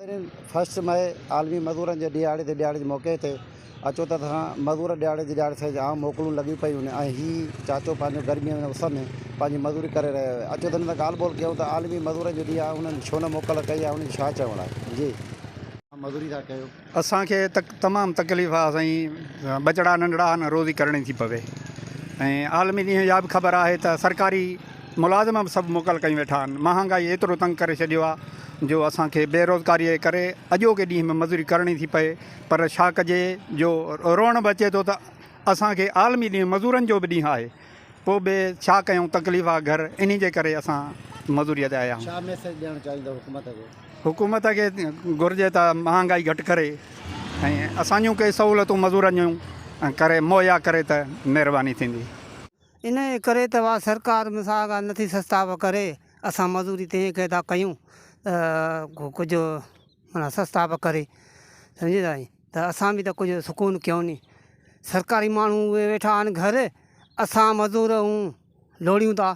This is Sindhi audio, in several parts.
پهرين فرسٽ مئي عالمي مزورن جي ڏهاڙي تي ڏهاڙي جي موقعي تي اچو ته اسان مزور ڏهاڙي جي ڏهاڙي سان جام موڪلون لڳيون پيون آهن ۽ هي چاچو پنهنجو گرميء ۾ اس ۾ پنهنجي مزوري ڪري رهيو آهي اچو ته هن سان ڳالهه ٻولهه ڪيون ته عالمي مزورن جو ڏينهن آهي هن ڇو نه موڪل ڪئي آهي هن جو ڇا چوڻ آهي جي اوهان مزوري ٿا ڪيو. اسان کي تمام تڪليف آ سائين ٻچڙا ننڍڙا آ نه روزي ڪرڻي ٿي پوي ۽ عالمي ڏينهن جا به خبر آهي ته سرڪاري ملازم به سڀ موڪل ڪيون ويٺا آهن، مهانگائي ايترو تنگ ڪري ڇڏيو آهي جو اسان کي بيروزگاريء جي ڪري اڄوڪي ڏينهن به مزوري ڪرڻي ٿي پئي پر ڇا ڪجي جو روئڻ به اچي ٿو ته اسان کي عالمي ڏينهن مزورن جو به ڏينهن آهي پوء به ڇا ڪيون تڪليف آهي گهر انهي جي ڪري اسان مزوريء تي آيا آهيون. ڇا ميسيج ڏيڻ چاهيندو حڪومت کي؟ حڪومت کي گهرجي ته مهانگائي گهٽ ڪري ۽ اسان جون ڪي سهولتون مزورن جون ڪري مهيا ڪري ته مهرباني ٿيندي. انهيء ڪري ته اها سرڪار مونسان آگاهه نه ٿي سستاء ڪري، اسان مزوري تنهيء ڪري ٿا ڪيون ته ڪجهه معنيٰ سستاء ڪري، سمجهي ٿا سائين، ته اسان به ته ڪجهه سڪون ڪيون ني، سرڪاري ماڻهو اهي ويٺا آهن گهر، اسان مزور هون لوڙيون ٿا،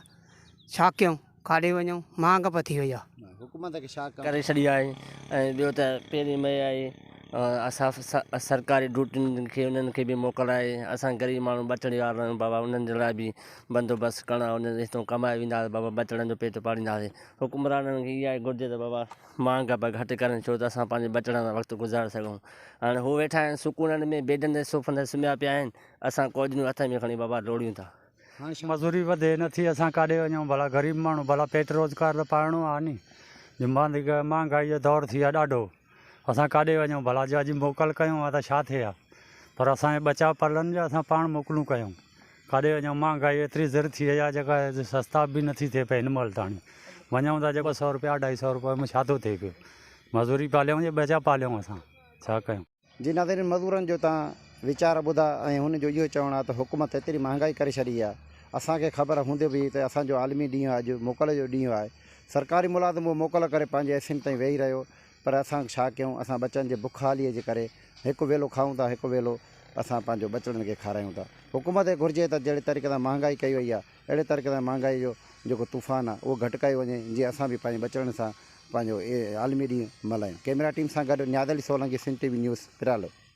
ڇا ڪيون؟ کاڏي وڃو مھانگ پٿي وئي آ. حڪومت کي شاڪ ڪري ڇڏي آھي ۽ ٻيو ته پهرين مئي آئي اساف سرڪاري ڊوٽين کي انهن کي به موڪل آھي اسان غريب ماڻھو ٻچڙي وارا آھيون بابا انهن جي لاء به بندوبست ڪرڻ آھي انهن هتو ڪمائي ويندا ته بابا ٻچڙن جو پيٽ پالينداسي حڪمرانن کي اها ئي گهرجي ته بابا مھانگ به گهٽ ڪرن ڇو ته اسان پنهنجي ٻچڙن سان وقت گذاري سگهون هاڻي هو ويٺا آھن سڪونن ۾ بيڊن تي صوفن تي سمهيا پيا آھن اسان ڪوڏيون هٿ ۾ کڻي بابا ڊوڙيون ٿا. مزوري وڌي نه ٿي اسان ڪاڏي وڃون ڀلا غريب ماڻهو ڀلا پيٽ روزگار ته پائڻو آهي ني جو مانڌ مهانگائي جو دور ٿي ويو ڏاڍو اسان ڪاڏي وڃون ڀلا جو اڄ موڪل ڪيون ها ته ڇا ٿئي ها پر اسان جو ٻچا پرلن جو اسان پاڻ موڪلون ڪيون ڪاڏي وڃون مهانگائي ايتري زر ٿي وئي آهي جيڪا سستا به نه ٿي ٿئي پئي هن مهل تاڻي وڃون ٿا جيڪو سؤ روپيا اڍائي سؤ روپيا ۾ ڇا ٿو ٿئي پيو مزوري پاليون جي ٻچا پاليون اسان ڇا ڪيون. جي ناظرين مزورن جو تان ويچار ٻڌا ۽ هن جو اهو چوڻ آ ته حڪومت ايتري مهانگائي ڪري ڇڏي آ اسان کي خبر هوندي به ته اسان جو عالمي ڏينهن اڄ موڪل جو ڏينهن آهي سرڪاري ملازم اهو موڪل ڪري پنهنجي ايسين تائين ويهي رهيو پر اسان ڇا ڪيون اسان ٻچن جي بک حالي جي ڪري هڪ ويلو کائون ٿا هڪ ويلو اسان پنهنجو ٻچڙن کي کارايون ٿا حڪومت کي گهرجي ته جهڙي طريقي سان مهانگائي ڪئي وئي آ اهڙي طريقي سان مهانگائي جو جيڪو طوفان آهي اهو گهٽ ڪيو وڃي جيئن اسان به پنهنجي ٻچڙن سان پنهنجو عالمي ڏينهن ملهايون ڪيميرا ٽيم سان گڏ Niaz Ali Solangi Sindh T V news پرالو.